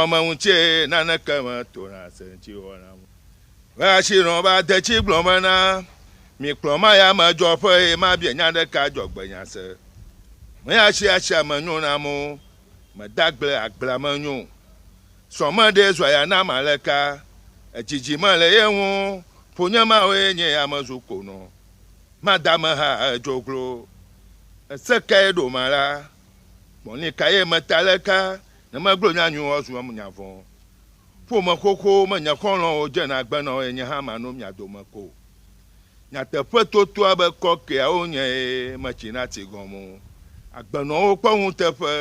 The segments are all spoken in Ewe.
Ame ŋu tse nane ke me to na se ŋtsi wɔ na mu. Ve ashi nɔ ba de tsi gblɔ me na mi kplɔ ma ya me dzɔ ƒe ye ma bie nya ɖe ka dzɔ gbe nya se. Me ya tsi ashi ame nyo na mo me da gble agbla me nyo. Sɔ me ɖe zɔ ya na ma le ka edzidzi me le ye ŋu ƒo nye ma wo ye nye ya me zu ko nɔ ma da me ha edzo glo. Ese ka ye ɖo ma la gbɔ ni ka ye me ta le ka Ne megblɔ nya nyuiwo zu nya vɔ̃. Ƒome xoxowo me nye xɔlɔ̃wo dzena agbe na wo eye nye hã manɔ mia dome ko o. Nyateƒe totoa be kɔkɔeawo nye eye metsi na tsi gɔme o. Agbenɔwo kpɔ ŋuteƒe,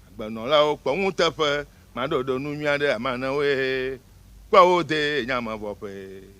agbenɔlawo kpɔ ŋuteƒe, maɖɔɖɔ nu nyui aɖe ame anewoe, kpɔ wo de eye nye ame vɔ̃ ƒee.